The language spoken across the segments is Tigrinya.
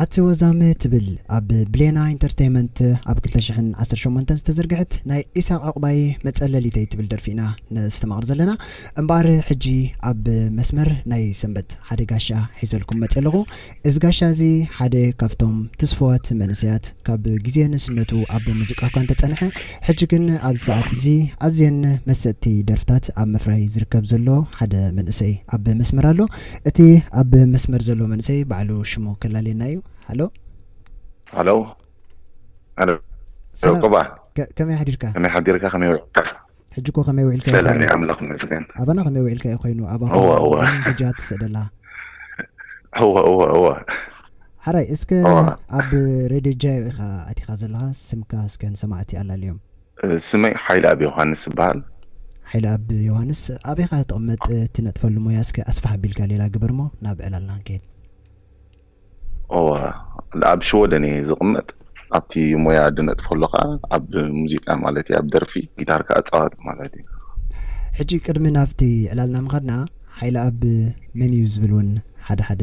ኣቲ ወዛም ትብል ኣብ ብሌና ኢንተርተይመንት ኣብ ክልተ ሽሕን ዓሰርተ ሸሞንተን ዝተዘርግሐት ናይ ኢሳቅ ዑቅባይ መጸለሊተይ ትብል ደርፊ ኢና ነስተማቅር ዘለና እምበኣር ሕጂ ኣብ መስመር ናይ ሰንበት ሓደ ጋሻ ሒዘልኩም መጽየ ኣለኩ እዚ ጋሻ እዚ ሓደ ካብቶም ትስፉዋት መንእሰያት ካብ ግዜ ንእስነቱ ኣብ ሙዚቃ እኳ እንተጸንሐ ሕጂ ግን ኣብዚ ሰዓት እዚ ኣዝየን መሰጥቲ ደርፍታት ኣብ ምፍራይ ዝርከብ ዘሎ ሓደ መንእሰይ ኣብ መስመር ኣሎ እቲ ኣብ መስመር ዘሎ መንእሰይ ባዕሉ ሽሙ ከላልየና እዩ። ሃሎ። ሃሎ። ሃሎ። ሰላም ዑቅባ ከ- ከመይ ሓዲርካ? ከመይ ሓዲርካ ከመይ ውዒልካ? ሕጂ እኮ ከመይ ውዒልካ እዩ ሰላም ኮይኑ። እዩ ኣምላኽ ይመስገን። ኣባና ከመይ ውዒልካ እዩ ኮይኑ ኣባ እወ ኮይኑ እወ ግን ሕጂ ኣትስእደላ እወ እወ እወ ሓራይ እስከ እወ ኣብ ሬድዮ ጃዮ ኢኻ ኣቲኻ ዘለኻ ስምካ እስከ ንሰማዕቲ ኣላልዮም። ስመይ ሓይልኣብ ዮውሃንስ እባሃል። ሓይልኣብ ዮውሃንስ ኣበይኻ ትቕመጥ ትነጥፈሉ ሞያ እስከ ኣስፍሕ ኣቢልካ ሌላ ግበርሞ ናብ ዕላልና ክንከይድ። እወ ኣብ ሽወደን እየ ዝቕመጥ ኣብቲ ሞያ ድነጥፈሉ ከኣ ኣብ ሙዚቃ ማለት እየ ኣብ ደርፊ ጊታር ከኣ እጻወት ማለት እየ። ሕጂ ቅድሚ ናብቲ ዕላልና ምኻድና ሓይልኣብ መን እዩ ዝብል ውን ሓደ ሓደ።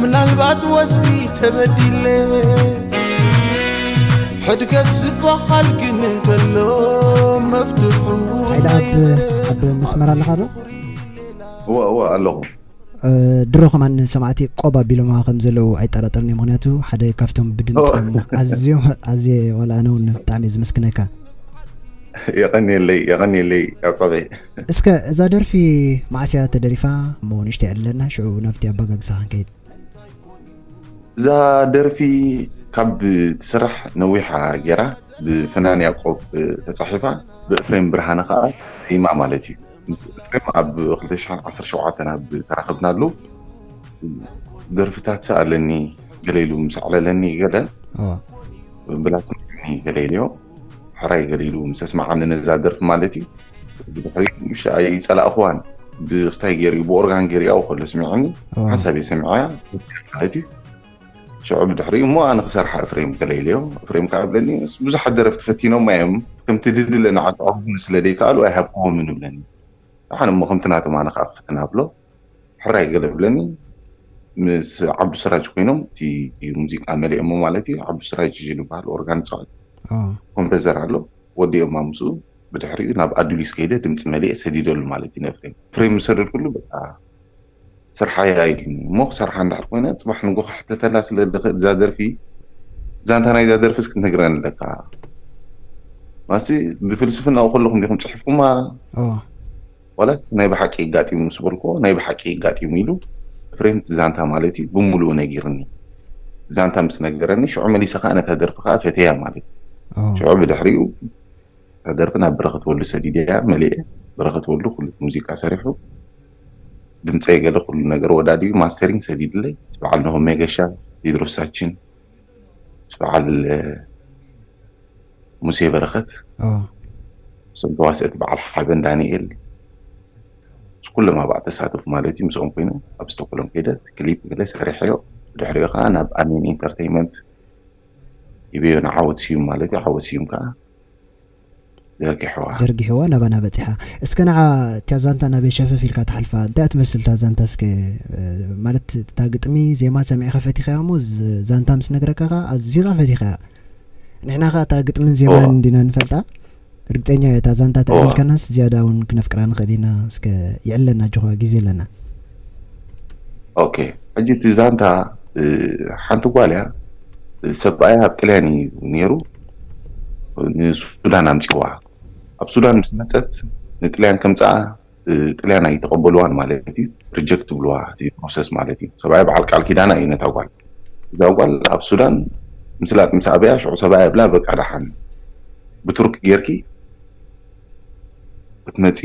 ምናልባት ወዝቢ ተበዲለ ሕድገት ዝበሃል ግን እንከሎ መፍትሑ ኣብ መስመር ኣለኻ ዶ እወ እወ ኣለኹ ድሮ ከማን ሰማዕቲ ቆብ ኣቢሎማ ከም ዘለዉ ኣይጠራጠርን እዩ ምክንያቱ ሓደ ካብቶም ብድምፆም ኣዝዮም ኣዝየ ዋላ ኣነ እውን ብጣዕሚ ዝምስክነካ የቀኒየለይ የቀኒየለይ ዕቆበይ እስከ እዛ ደርፊ መዓስ እያ ተደሪፋ እሞ ንእሽተይ ዕድለና ሽዑ ናብቲ ኣባጋግሳኻ ክንከይድ። እዛ ደርፊ ካብ ትስራሕ ነዊሓ ጌራ ብፍናን ያቆብ ተጻሒፋ ብእፍሬም ብርሃነ ከኣ ተዜማ ማለት እዩ ምስ እፍሬም ኣብ ክልተ ሽሕን ዓሰርተ ሸውዓተን ኣብ ተራኽብናሉ ደርፍታት ስኣለኒ ገለ ኢሉ ምስ ኣዕለለኒ ገለ ብላስ ምዕልኒ ገለ ኢልዮ ሕራይ ገለ ኢሉ ምስ ኣስመዓኒ ነዛ ደርፊ ማለት እዩ ብድሕሪኡ ምሽ ኣይጸላእኽዋን ብስታይ ገይሩ ብኦርጋን ገይሩ ያው ከሎ ስሚዕኒ ሓሳበይ ሰሚዐያ ማለት እዩ ሽዑ ብድሕሪኡ እሞ ኣነ ክሰርሓ እፍሬም ከለኢለዮ እፍሬም ከዓ ብለኒ ምስ ብዙሓት ደረፍቲ ፈቲኖማ እዮም ከምቲ ድድለ ንዓጠቕኹም ስለ ዘይከኣሉ ኣይሃብክዎምን ይብለኒ ኣነ እሞ ከምቲ ናቶም ኣነ ከዓ ክፍትና ብሎ ሕራይ ገለብለኒ ምስ ዓብዱ ስራጅ ኮይኖም እቲ ሙዚቃ መሊኦሞ ማለት እዩ ዓብዱ ስራጅ ንበሃል ኦርጋን ይፃወት ኮምፐዘር ኣሎ ወዲኦማ ምስኡ ብድሕሪኡ ናብ ኣዱሊስ ከይደ ድምፂ መሊኤ ሰዲደሉ ማለት እዩ ንፍሬም ፍሬም ምስ ሰደድኩሉ በቃ ስርሓያ ኢልኒ እሞ ክሰርሓ እንድሕር ኮይነ ፅባሕ ንጎ ክሕተተላ ስለ ዝኽእል እዛ ደርፊ ዛንታ ናይዛ ደርፊ እስኪ ትነግረኒ ኣለካ ማሲ ብፍልስፍናኡ ከለኹም ዲኹም ፅሒፍኩማ ዋላስ ናይ ብሓቂ ኣጋጢሙ ምስ በልኩዎ ናይ ብሓቂ ኣጋጢሙ ኢሉ ኤፍሬም እቲ ዛንታ ማለት እዩ ብሙሉኡ ነጊሩኒ እቲ ዛንታ ምስ ነገረኒ ሽዑ መሊሰ ከኣ ነታ ደርፊ ከኣ ፈትየያ ማለት እዩ ሽዑ ብድሕሪኡ እታ ደርፊ ናብ በረኸት ወሉ ሰዲደያ መሊኤ በረኸት ወሉ ኩሉ እቲ ሙዚቃ ሰሪሑ ድምጸይ ገለ ኩሉ ነገር ወዳዲሩ ማስተሪንግ ሰዲድለይ እቲ በዓል ኖሆ ሜገሻ ቴድሮስ ሳችን በዓል ሙሴ በረኸት ምስኦም ተዋሰእቲ በዓል ሓበን ዳንኤል ምስ ኩሎም ኣብኣ ተሳተፉ ማለት እዩ ምስኦም ኮይኑ ኣብ ስተኮሎም ከይደ ክሊፕ ገለ ሰሪሐዮ ብድሕሪኡ ከዓ ናብ ኣሜን ኢንተርቴይመንት ይበዮ ንዓወት ስዩም ማለት እዩ ዓወት ስዩም ከዓ ዘርጊሕዋ። ዘርጊሕዋ ናባና በጺሓ እስከ ንዓ እታ ዛንታ ናበይ ሸፈፍ ኢልካ ትሓልፋ እንታይ እያ ትመስል እታ ዛንታ እስከ ማለት እታ ግጥሚ ዜማ ሰሚዕካ ፈቲኻያ እሞ ዛንታ ምስ ነግረካ ከኣ ኣዚኻ ፈቲኻያ ንሕና ከኣ እታ ግጥምን ዜማን እንዲና ንፈልጣ ርግጸኛ እየ እታ ዛንታ ተዕሊልካናስ ዝያዳ እውን ክነፍቅራ ንኽእል ኢና እስከ ይዕለና ኣጆኻ ግዜ ኣለና ኦኬ ሕጂ እቲ ዛንታ እ፣ ሓንቲ ጓል እያ እ፣ ሰብኣያ ኣብ ጥልያን እዩ ነይሩ እ፣ ንሱዳን ኣምፅዋ ኣብ ሱዳን ምስ መፀት ንጥልያን ከምፅኣ እ፣ ጥልያን ኣይተቐበልዋን ማለት እዩ ሪጀክት ብልዋ እቲ ፕሮሰስ ማለት እዩ ሰብኣያ በዓል ቃል ኪዳና እዩ ነታ ጓል እዛ ጓል ኣብ ሱዳን ምስላጥ ምስ ኣበያ ሽዑ ሰብኣያ ይብላ በቃ ደሓን ብቱርክ ጌርኪ ክትመፂ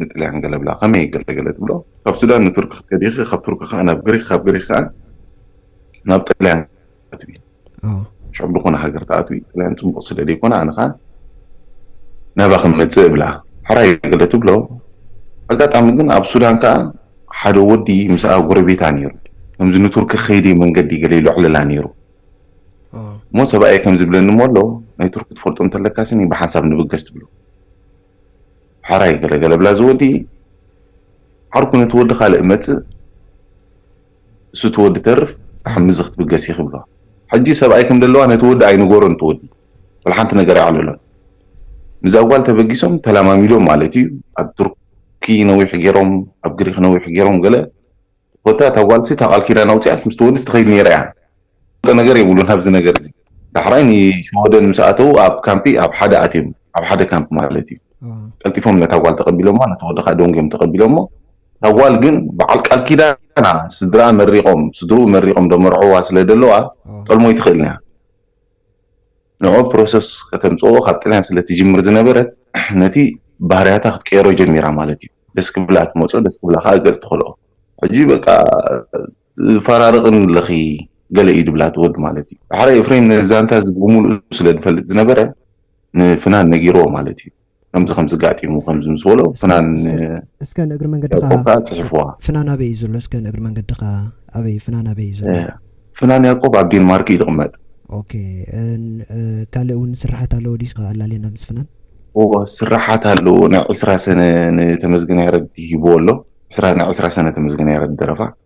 ንጥልያን ገለብላ ከመይ እየ ገለ ገለ ትብሎ ካብ ሱዳን ንቱርኪ ክትከዲ ኢኪ ካብ ቱርኪ ከኣ ናብ ግሪክ ካብ ግሪክ ከኣ ናብ ጥልያን ክትኣትዊ ሽዑ ብዝኮነ ሃገር ትኣትዊ ጥልያን ጽቡቅ ስለ ደይኮነ ኣነ ከኣ ናባኪ ክመጽእ እብላ ሕራይ ገለ ትብሎ ኣጋጣሚ ግን ኣብ ሱዳን ከኣ ሓደ ወዲ ምስኣ ጎረቤታ ነይሩ ከምዚ ንቱርኪ ከይዲ መንገዲ ገለ ይሎዕለላ ነይሩ እሞ ሰብኣየይ ከምዚ ይብለኒ እሞ ኣሎ ናይ ቱርኪ ትፈልጦ እንተለካ ስኒ ብሓንሳብ ንብገስ ትብሎ። ሐራይ ገለገለ ብላ ዝወዲ ዓርኩ ነቲ ወዲ ካልእ መጽእ እሱ ትወዲ ተርፍ ተሐምዚ ክትብገስ ይክብሎ ሕጂ ሰብኣይ ከም ደለዋ ነቲ ወዲ ኣይንገሮን ትወዲ ወልሓንቲ ነገር ኣይዕልሎን ምዛ ጓል ተበጊሶም ተላማሚዶም ማለት እዩ ኣብ ቱርኪ ነዊሕ ገሮም ኣብ ግሪክ ነዊሕ ገሮም ገለ ኮታ እታ ጋል እታ ቃል ኪዳን ኣውጺኣስ ምስቲ ወድስ ትከይድ ነይራ እያ ዝፈልጦ ነገር የብሉን ኣብዚ ነገር እዚ ዳሕራይ ንሽወደን ምስ ኣተዉ ኣብ ካምፒ ኣብ ሓደ ኣትዮም ኣብ ሓደ ካምፒ ማለት እዩ ቀልጢፎም ነታ ጋል ተቀቢሎማ ነቲ ወዲ ከኣ ደንጉዮም ተቀቢሎሞ እታ ጋል ግን በዓል ቃል ኪዳና ስድራኣ መሪቆም ስድርኡ መሪቆም ደመርዕዋ ስለ ደለዋ ጠልሞይ ትክእል እያ ንዑ ፕሮሰስ ከተምጽኦ ካብ ጥልያን ስለ ትጅምር ዝነበረት ነቲ ባህርያታ ክትቀይሮ ጀሚራ ማለት እዩ ደስ ክብላ ትመጾ ደስ ክብላ ከኣ ገጽ ትኸልኦ ሕጂ በቃ ትፈራርቕን ኣለኺ ገለ እዩ ድብላ እቲ ወዲ ማለት እዩ። ዳሕራይ ኤፍሬም ነዚ ዛንታ እዚ ብምሉኡ ስለ ዝፈልጥ ዝነበረ ንፍናን ነጊርዎ ማለት እዩ። ከምዚ ከምዚ ጋጢሙ ከምዚ ምስ በሎ ፍናን እስከ ንእግሪ መንገድኻ ያቆብ ጽሒፍዋ ፍናን ኣበይ እዩ ዘሎ እስከ ንእግሪ መንገድኻ ኣበይ ፍናን ኣበይ እዩ ዘሎ ፍናን ያቆብ ኣብ ዴንማርክ እዩ ዝቕመጥ ኦኬ ካልእ እውን ስራሓት ኣለዎ ድዩ ስኻ ኣላልየና ምስ ፍናን ስራሓት ኣለዎ ናይ ዕስራ ሰነ ንተመስገን ያረድ ሂብዎ ኣሎ ዕስራ ናይ ዕስራ ሰነ ተመስገን ያረድ ደረፋ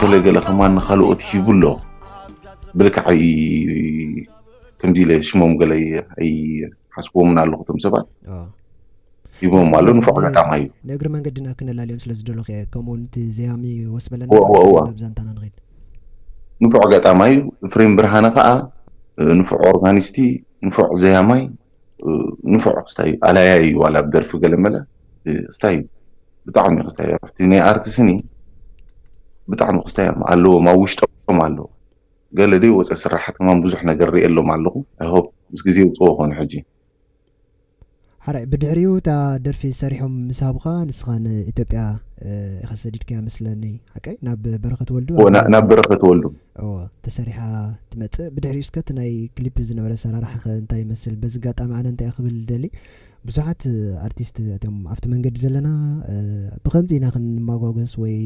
ገለ ገለ ከማን ንካልኦት ሂቡ ኣሎ ብልክዕ ኣይ ከምዚ ኢለ ሽሞም ገለ ኣይሓስብዎምን ኣለኹ እቶም ሰባት ኣዎ። ሂቦም ኣሎ ንፉዕ ኣጋጣሚ እዩ ንእግሪ መንገድና ክነላልዮም ስለ ዝደለኹ እየ ከምኡ ውን እቲ ዘያሚ ወስ በለና እወ፣ እወ፣ እወ። ናብ ዛንታና ንኺድ ንፉዕ ኣጋጣሚ እዩ ፍሬም ብርሃነ ከዓ ንፉዕ ኦርጋኒስቲ ንፉዕ ዘያማይ ንፉዕ ክስታይ ኣላያ እዩ ዋላ ብ ደርፊ ገለ መለ ክስታይ ብጣዕሚ ክስታይ ኣብቲ ናይ ኣርቲ ስኒ ብጣዕሚ ክስታይ እዮም ኣለዎም ኣብ ውሽጦም ኣሎ ገለ ደይ ወፀ ስራሓት ከማን ብዙሕ ነገር ሪኤ ኣሎም ኣለኹ ኣይ ሆፕ ምስ ግዜ ውፅዎ ኮኑ ሕጂ ሓራይ ብድሕሪኡ እታ ደርፊ ሰሪሖም ምስ ሃቡኻ ንስኻ ንኢትዮጵያ ኢኻ ሰዲድካያ መስለኒ ሓቀይ ናብ በረኸት ወልዱ ናብ በረኸት ወልዱ እወ ተሰሪሓ ትመጽእ ብድሕሪኡ እስከ እቲ ናይ ክሊፕ ዝነበረ ኣሰራርሓ ከ እንታይ ይመስል በዚ ኣጋጣሚ ኣነ እንታይ ክብል ዝደሊ ብዙሓት ኣርቲስት እቶም ኣብቲ መንገዲ ዘለና ብከምዚ ኢና ክንማጓጎስ ወይ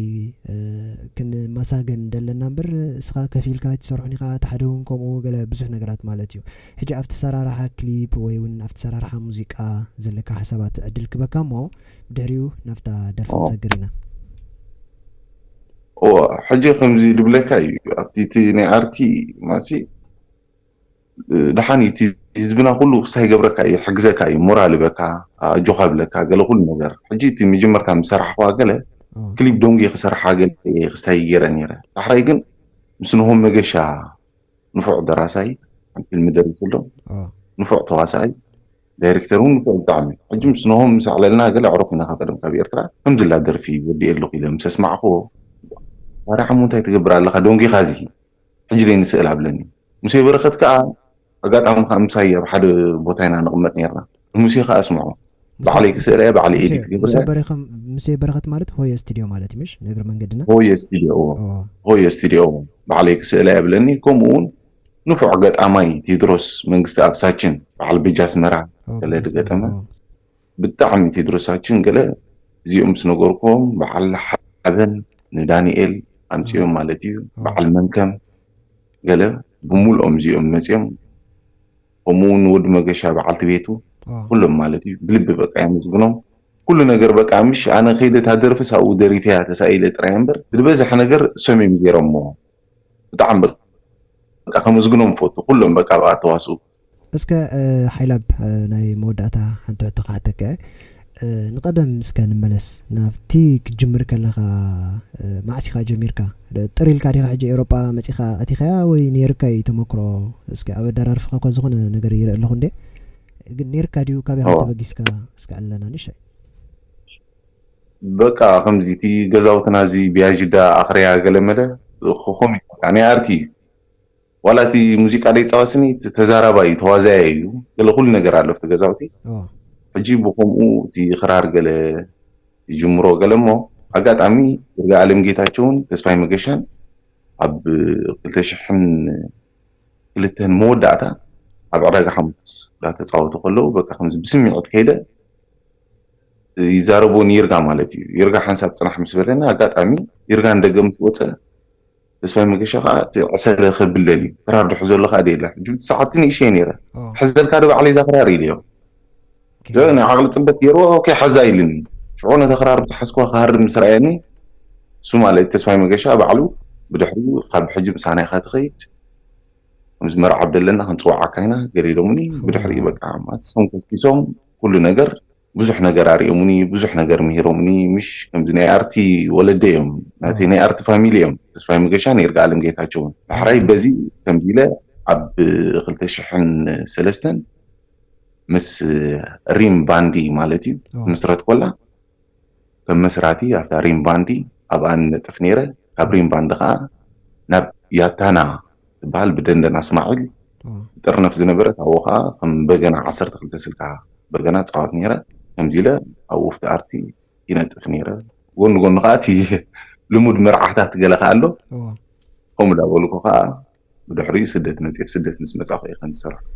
ክንማሳገን ደለና እምበር እስኻ ከፊልካ ኣይትሰርሑን ኢኻ እቲ ሓደ እውን ከምኡ ገለ ብዙሕ ነገራት ማለት እዩ ሕጂ ኣብቲ ኣሰራርሓ ክሊፕ ወይ እውን ኣብቲ ኣሰራርሓ ሙዚቃ ዘለካ ሓሳባት ዕድል ክበካ እሞ ብድሕሪኡ ናብታ ደርፊ ክንሰግር ኢና እወ ሕጂ ከምዚ ልብለካ እዩ ኣብቲ እቲ ናይ ኣርቲ ማሲ ደሓን እቲ ህዝብና ኩሉ ክሳብ ይገብረካ እዩ ሕግዘካ እዩ ሞራል ይበካ ኣጆኻ ብለካ ገለ ኩሉ ነገር ሕጂ እቲ መጀመርታ ምስ ሰራሕኳ ገለ ክሊፕ ዶንጌ ክሰርሓ ገለ ክስታይ ይገረ ነይረ ዳሕራይ ግን ምስ ንሆም መገሻ ንፉዕ ደራሳይ ሓንቲ ፊልም ደሪሱ ኣሎ ንፉዕ ተዋሳኣይ ዳይረክተር ውን ልክዑ ብጣዕሚ ሕጂ ምስ ኖሆም ምስ ኣዕለልና ገለ ኣዕሩኽ ኢናኻ ቀደም ካብ ኤርትራ ከምዚላ ደርፊ ወዲኤ ኣለኹ ኢለ ምስ ኣስማዕክዎ ዋእ ፋራሕ እሞ እንታይ ትገብር ኣለኻ ደንጒኻ እዚ ሕጂ ደይ ንስእል ኣብለኒ ሙሴ በረኸት ከኣ ኣጋጣሚ ከኣ ምሳይ ኣብ ሓደ ቦታ ኢና ንቕመጥ ኔርና ንሙሴ ከኣ ኣስምዖ ባዕለይ ክስእላ እየ ባዕለይ ኤዲት ገብረ እየ ሙሴ በረኸት ማለት ሆየ ስቲድዮ ማለት እዩ ምሽ ንእግሪ መንገድና ሆየ ስቲድዮ እዎ ሆየ ስቲድዮ እዎ ባዕለይ ክስእላ እየ ኣብለኒ ከምኡ ውን ንፉዕ ገጣማይ ቴድሮስ መንግስትኣብሳችን በዓል ቤጅ ኣስመራ ገለ ድገጠመ ብጣዕሚ ቴድሮሳችን ገለ እዚኦም ምስ ነገርኩዎም በዓል ሓበን ንዳኒኤል ኣምጺኦም ማለት እዩ በዓል መንከም ገለ ብሙሉኦም እዚኦም መጺኦም ከምኡ ውን ንወዲ መገሻ በዓልቲ ቤቱ ኩሎም ማለት እዩ ብልቢ በቃ የመስግኖም ኩሉ ነገር በቃ ምሽ ኣነ ከይደ ታደርፍስ ኣብኡ ደሪፈያ ተሳኢለ ጥራይ እምበር ድበዝሕ ነገር እሶም እዮም ገይሮሞ ብጣዕሚ በቃ ከመስግኖም እፈቱ ኩሎም በቃ ኣብኣ እተዋስኡ። እስከ ሓይላብ ናይ መወዳእታ ሓንቲ ሕቶ ክሓተከ ንቀደም እስከ ንመለስ ናብቲ ክትጅምር ከለካ ማዕስ ኢካ ጀሚርካ ጥር ኢልካ ዲካ ሕጂ ኤውሮጳ መጺካ ኣቲካያ ወይ ኔርካ ኢዩ ተመክሮ እስከ ኣብ ኣዳራርፍካ እኳ ዝኮነ ነገር ይርኢ ኣለኩ እንዴ ግን ኔርካ ዲዩ ካበይ ከም ተበጊስካ እስከ ዕለና ንሻይ በቃ ከምዚ እቲ ገዛውትና እዚ ብያዥዳ ኣኽርያ ገለመለ ኹኹም እዩ በቃ ናይ ኣርት እዩ ዋላ እቲ ሙዚቃ ደይጻወት ስኒ እቲ ተዛራባይ እዩ ተዋዛያይ እዩ ገለ ኩሉ ነገር ኣሎ ኣብቲ ገዛውቲ ሕጂ ብኸምኡ እቲ ኽራር ገለ ይጅምሮ ገለ እሞ ኣጋጣሚ ይርጋኣለም ጌታቸውን ተስፋይ መገሻን ኣብ ክልተ ሽሕን ክልተን መወዳእታ ኣብ ዕዳጋ ሓሙስ ዳተጻወቱ ከለዉ በቃ ከምዚ ብስሚዒት ከይደ ይዛረቦ ንይርጋ ማለት እዩ ይርጋ ሓንሳብ ጽናሕ ምስ በለና ኣጋጣሚ ይርጋ ንደገ ምስ ወጸ ተስፋይ መገሻ ከዓ እቲ ዕሰለ ከብለል እዩ ክራር ድሑ ዘሎ ከዓ ደየላ ሕጂ ሰዓብቲ ንእሽተይ ነይረ ሕዘልካ ዶ ባዕለይ እዛ ክራር ኢለዮ ናይ ዓቕሊ ጽበት ገይርዎ ኦኬ ሓዛ ኢልኒ ሽዑ ነታ ክራር ብዝሓዝክዋ ክሃርም ምስ ረኣየኒ እሱ ማለት ተስፋይ መገሻ ባዕሉ ብድሕሪኡ ካብ ሕጂ ምሳና ኢኻ ትኸይድ ከምዚ መርዓ ደለና ክንጽውዓካ ኢና ገለ ኢሎምኒ ብድሕሪኡ በቃ ማት ሶም ከኪሶም ኩሉ ነገር ብዙሕ ነገር ኣርኦሙኒ ብዙሕ ነገር ምሂሮሙኒ ምሽ ከምዚ ናይ ኣርቲ ወለደይ እዮም ናተይ ናይ ኣርቲ ፋሚሊ እዮም ተስፋይ መገሻን ይርጋኣለም ጌታቸውን ዳሕራይ በዚ ከምዚ ኢለ ኣብ ክልተ ሽሕን ሰለስተን ምስ ሪም ባንዲ ማለት እዩ ምስረት ኮላ ከም መስራቲ ኣብታ ሪም ባንዲ ኣብኣ ንነጥፍ ነይረ። ካብ ሪም ባንዲ ከኣ ናብ ያታና ትበሃል ብደንደን ኣስማዒል ትጥርነፍ ዝነበረት ኣብኡ ከኣ ከም በገና ዓሰርተ ክልተ ስልካ በገና እጻወት ነይረ። ከምዚ ኢለ ኣብ ዉፍቲ ኣርቲ ይነጥፍ ነይረ። ጎኒ ጎኒ ከኣ እቲ ልሙድ መርዓታት ገለ ከኣ ኣሎ። ከምኡ እንዳበልኩ ከኣ ብድሕሪኡ ስደት መጺኣ ብ ስደት ምስ መጻኩ እየ ከምዚ ዝሰራሕኩ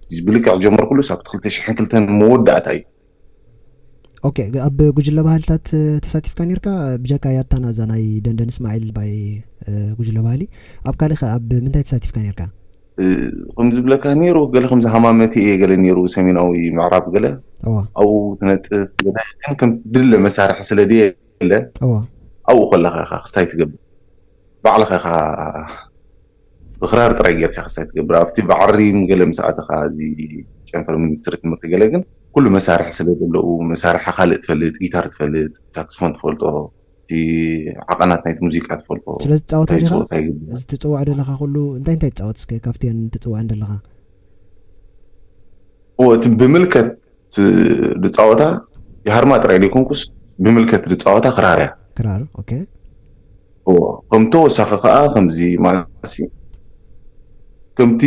እቲ ብልክዕ ዝጀመርኩሉስ ኣብቲ ክልተ ሽሕን ክልተን መወዳእታ እዩ። ኦኬ ኣብ ጉጅለ ባህልታት ተሳቲፍካ ኔርካ ብጀካ ያታና እዛ ናይ ደንደን እስማዒል ባይ ጉጅለ ባህሊ ኣብ ካልእ ከ ኣብ ምንታይ ተሳቲፍካ ኔርካ? ከም ዝብለካ ነይሩ ገለ ከምዚ ሃማመቲ እየ ገለ ነይሩ ሰሜናዊ ምዕራብ ገለ እዋ ኣብኡ ትነጥፍ ገለ ግን ከም ድለ መሳርሒ ስለ ድየለ እዋ ኣብኡ ከለካ ኢካ ክስታይ ትገብር ባዕልኻ ኢኻ ብክራር ጥራይ ጌርካ ክሳይ ትገብር ኣብቲ ብዓሪም ገለ ምስ ኣተኻ እዚ ጨንፈር ሚኒስትሪ ትምህርቲ ገለ ግን ኩሉ መሳርሒ ስለ ደለኡ መሳርሒ ካልእ ትፈልጥ ጊታር ትፈልጥ ሳክስፎን ትፈልጦ እቲ ዓቐናት ናይቲ ሙዚቃ ትፈልጦ ስለ ዝጻወት እንታይ እንዲኻ ጸወታ ይግብኣ እዚ ትጽውዖ ደለኻ ኩሉ እንታይ እንታይ ትጻወት እስከ ካብቲኤን ትጽውዐን ደለኻ? እወ እቲ ብምልከት እቲ ድጻወታ ይሃርማ ጥራይ ደይኮንኩስ ብምልከት ድጻወታ ክራር እያ። ክራር ኦኬ። እዎ ከም ተወሳኺ ከኣ ከምዚ ማለትሲ ከምቲ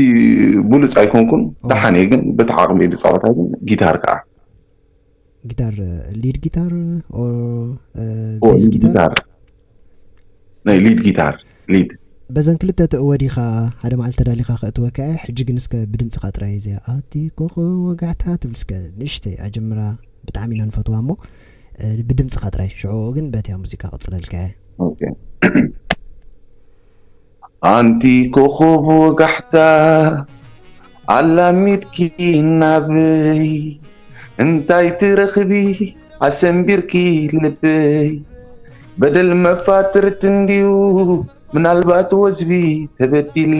ብሉጽ ኣይኮንኩን ደሓን እየ ግን በቲ ዓቕመይ ድጻወታ ግን ጊታር ከኣ ጊታር ሊድ ጊታር ኦር ቤዝ ጊታር ናይ ሊድ ጊታር ሊድ። በዘን ክልተ ተእወዲካ ሓደ መዓልቲ ተዳሊካ ከእትወካ እየ ሕጂ ግን እስከ ብድምጽካ ጥራይ እዚኣ ኣቲ ኮኾ ወጋሕታ ትብል እስከ ንእሽተይ ኣጀምራ ብጣዕሚ ኢና ንፈትዋ እሞ ብድምጽካ ጥራይ ሽዑኡ ግን በቲያ ሙዚቃ ክቅጽለልካ እየ። ኣንቲ ኮኾብ ወጋሕታ ኣላሚድኪ ናበይ እንታይ ትረኽቢ ኣሰንቢርኪ ልበይ በደል መፋትርት እንድዩ ምናልባት ወዝቢ ተበዲለ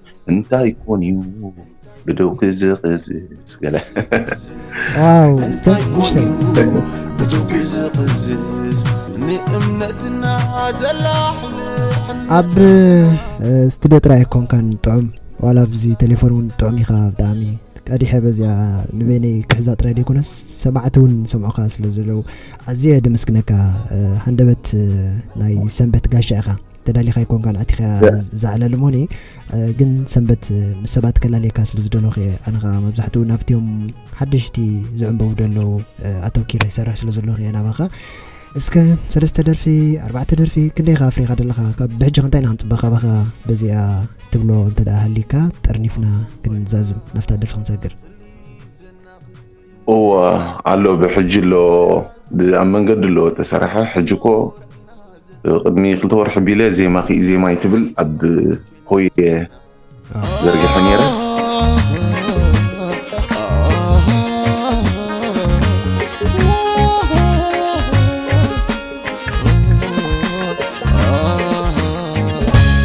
እንታይ ኮን እዩ ብደው ክዝቕዝዝ ገለ ዋው እስከ ንእሽተይ ብደው ክዝቕዝዝ ንእምነትና ዘላሕል ኣብ ስቱድዮ ጥራይ ኣይኮንካን ጥዑም ዋላ ኣብዚ ቴሌፎን እውን ጥዑም ኢኻ ብጣዕሚ ቀዲሐ በዚኣ ንበይነይ ክሕዛ ጥራይ ዘይኮነስ ሰማዕቲ እውን ሰምዑካ ስለ ዘለዉ ኣዝየ ደመስግነካ ሃንደበት ናይ ሰንበት ጋሻ ኢኻ ተዳሊኻ ኣይኮንካን ኣቲኻ እዛ ዕላል እሞኒ ግን ሰንበት ምስ ሰባት ከላለየካ ስለ ዝደለኹ እየ ኣነ ከዓ መብዛሕትኡ ናብትዮም ሓደሽቲ ዝዕንበቡ ደለዉ ኣተውኪረ ይሰርሕ ስለ ዘለኹ እየ ናባኻ እስከ ሰለስተ ደርፊ ኣርባዕተ ደርፊ ክንደይ ካ ኣፍሪኻ ደለኻ ካብ ብሕጂ ክንታይ ኢና ክንፅበ ካባኻ በዚኣ ትብሎ እንተ ሃሊካ ጠርኒፍና ክንዛዝም ናብታ ደርፊ ክንሰግር እወ ኣሎ ብሕጂ ኣሎ ብኣብ መንገዲ ኣሎ እተሰርሐ ሕጂ እኮ ቅድሚ ክልተ ወርሒ ቢለ ዜማ ክኢ ዜማይ ትብል ኣብ ሆየ ዘርጊሐ ነይረ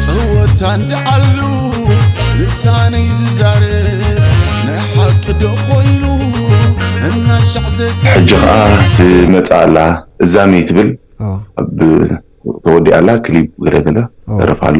ጸወታ እንዳዓሉ ልሳነይ ዝዛረብ ናይ ሓቂ ዶ ኮይኑ እናሻዕ ዘተ ሕጂ ከዓ ትመፅእ ኣላ እዛመይ ትብል ኦ ኣብ ተወዲኣ ኣላ ክሊፕ ገለ ገለ ኦ ደረፍ ኣሎ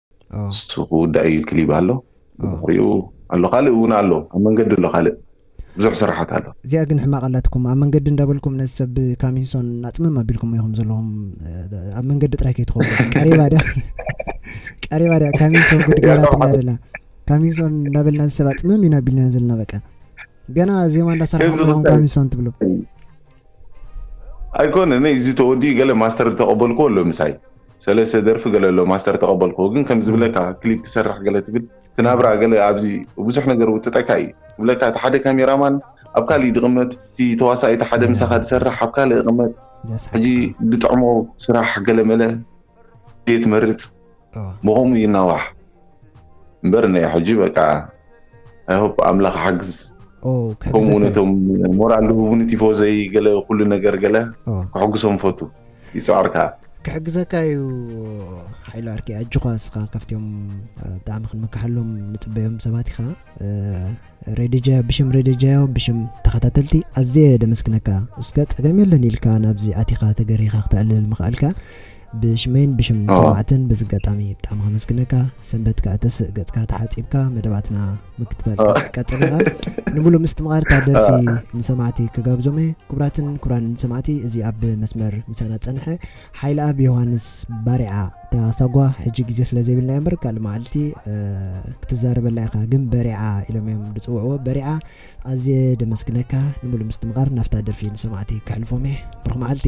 ኦ እሱ ክውዳእ እዩ ክሊብ ኣሎ ኦ ብድሕሪኡ ኣሎ ካልእ እውን ኣሎ ኣብ መንገዲ ኣሎ ካልእ ብዙሕ ስራሓት ኣሎ እዚኣ ግን ሕማቅ ኣላትኩም ኣብ መንገዲ እንዳበልኩም ነዚ ሰብ ብ ካሚንሶን ኣጽምም ኣቢልኩሞ ኢኹም ዘለኹም እ፣ ኣብ መንገዲ ጥራይ ከይትኸዱ ቀሪባ ድያ ቀሪባ ድያ ካሚንሶን ጉድ ገይራትና ጠብሓት ደላ ካሚንሶን እንዳበልና እዚ ሰብ ኣጽምም ኢና ኣቢልና ዘለና በቃ ገና ዜማ ከምዚ እንዳሰራሕኹም ኢኹም ክስታይ ካሚንሶን ትብሉ ኣይኮነን እዚ ተወዲኡ ገለ ማስተር ተቐበልኩዎ ኣሎ ምሳይ ሰለስተ ደርፊ ገለ ኣሎ ማስተር ተቀበልኩ ግን ከም ዝብለካ ክሊፕ ክሰርሕ ገለ ትብል ትናብራ ገለ ኣብዚ ብዙሕ ነገር ውጥጠካ እዩ ትብለካ እቲ ሓደ ካሜራማን ኣብ ካልእ ድቕመጥ እቲ ተዋሳኢ እቲ ሓደ ምሳኻ ድሰርሕ ኣብ ካልእ ይቕመጥ ሕጂ ድጥዕሞ ስራሕ ገለ መለ ድየ ትመርጽ ብኸምኡ ይናዋሕ እምበር ናይ ሕጂ በቃ ኣይሆፕ ኣምላኽ ሓግዝ ከምኡ ውን እቶም ሞራል ዝህቡኒ ቲፎዘይ ገለ ኩሉ ነገር ገለ ክሕግሶም ፈቱ ይፅዕር ከዓ ክሕግዘካ እዩ ሓይሉ ኣርኪ ኣጆኻ እስኻ ካብትኦም ብጣዕሚ ክንምካሓሎም ንፅበዮም ሰባት ኢኻ ሬድጃ ብሽም ሬድጃዮ ብሽም ተኸታተልቲ ኣዝየ ደመስግነካ እስከ ፀገም የለን ኢልካ ናብዚ ኣቲኻ ተገሪኻ ክተዕልል ምኽኣልካ ብሽመይን ብሽም ሰማዕትን በዚ ኣጋጣሚ ብጣዕሚ ከመስግነካ ሰንበት ከዕተስእ ገጽካ ተሓጺብካ መደባትና ምክትታልካ ክትቀጽል ኢኻ ንሙሉእ ምስትምቓር እታ ደርፊ ንሰማዕቲ ክጋብዞም እየ ክቡራትን ክቡራን ሰማዕቲ እዚ ኣብ መስመር ምሳና ዝጸንሐ ሓይልኣብ ዮሃንስ ባሪዓ እታ ሳጓ ሕጂ ግዜ ስለ ዘይብልና እምበር ካልእ መዓልቲ ክትዛረበላ ኢኻ ግን በሪዓ ኢሎም እዮም ዝጽውዕዎ በሪዓ ኣዝየ ደመስግነካ ንሙሉእ ምስትምቓር ናብታ ደርፊ ንሰማዕቲ ክሕልፎም እየ ብሩኽ መዓልቲ